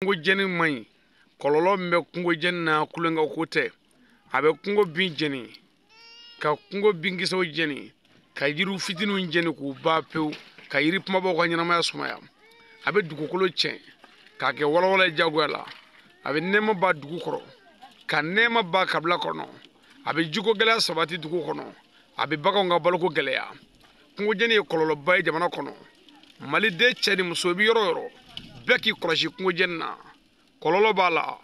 kungo jeni man ɲi kɔlɔlɔ min bɛ kungo jeni na kelen ka ko tɛ a bɛ kungo bin jeni ka kungo binkisɛw jeni ka yiriw fitiniw jeni k'u ban pewu ka yiri kumabaw ka ɲɛnamaya sumaya a bɛ dugukolo tiɲɛ k'a kɛ walawala jagoya la a bɛ nɛɛma ban dugu kɔrɔ ka nɛɛma ban kabila kɔnɔ a bɛ jiko gɛlɛya sabati dugu kɔnɔ a bɛ baganw ka baloko gɛlɛya kungojeni ye kɔlɔlɔba ye jamana kɔnɔ maliden cɛ ni muso i bɛ yɔrɔ o yɔrɔ bɛɛ k'i kɔlɔsi kungojeni na kɔlɔlɔ b'a la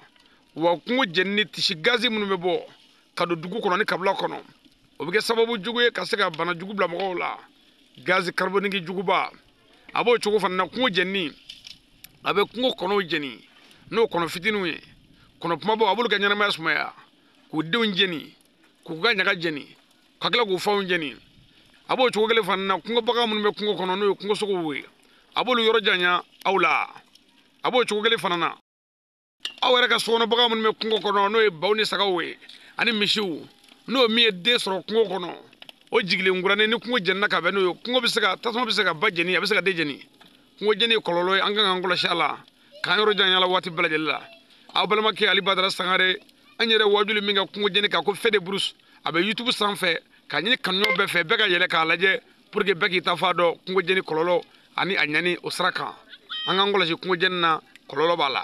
wa kungo jenini sisi gazi minnu bɛ bɔ ka don dugu kɔnɔ ni kabila kɔnɔ o bɛ kɛ sababu jugu ye ka se ka bana jugu bila mɔgɔw la gazi kariboniki juguba a b'o cogo fana na kungo jenini a bɛ kungo kɔnɔw jeni n'o kɔnɔ fitininw ye kɔnɔ kumabaw a b'olu ka ɲɛnamaya sumaya k'u denw jeni k'u ka ɲaga jeni ka tila k'u fanw jeni a b'o cogo kelen fana na kungo bagan minnu bɛ kungo kɔnɔ n'o ye kungo sogow ye a b'olu yɔrɔ janya aw la a b'o cogo kelen fana na aw yɛrɛ ka sokɔnɔ bagan minnu bɛ kungo kɔnɔ n'o ye baw ni sagaw ye ani misiw n'o min ye den sɔrɔ kungo kɔnɔ o jiginlen kuranin ni kungo jenina ka bɛn n'o ye kungo bɛ se ka tasuma bɛ se ka ba jeni a bɛ se ka den jeni kungo jeni ye kɔlɔlɔ ye an kan k'an kɔlɔsi a la k'an yɔrɔ janya la waati bɛɛ lajɛlen la aw balimakɛ ali badara sangare an yɛrɛ wajuli min kɛ kungo jeni kan ko feu de brousse a bɛ youtube sanfɛ k'a ɲini kanuɲɔgɔn bɛɛ fɛ bɛɛ ka yɛlɛ k'a lajɛ pour que bɛɛ k'i ta fan dɔn kungojeni kɔlɔlɔ ani a ɲani o sira kan an k'an kɔlɔsi kungojeni na kɔlɔlɔ b'a la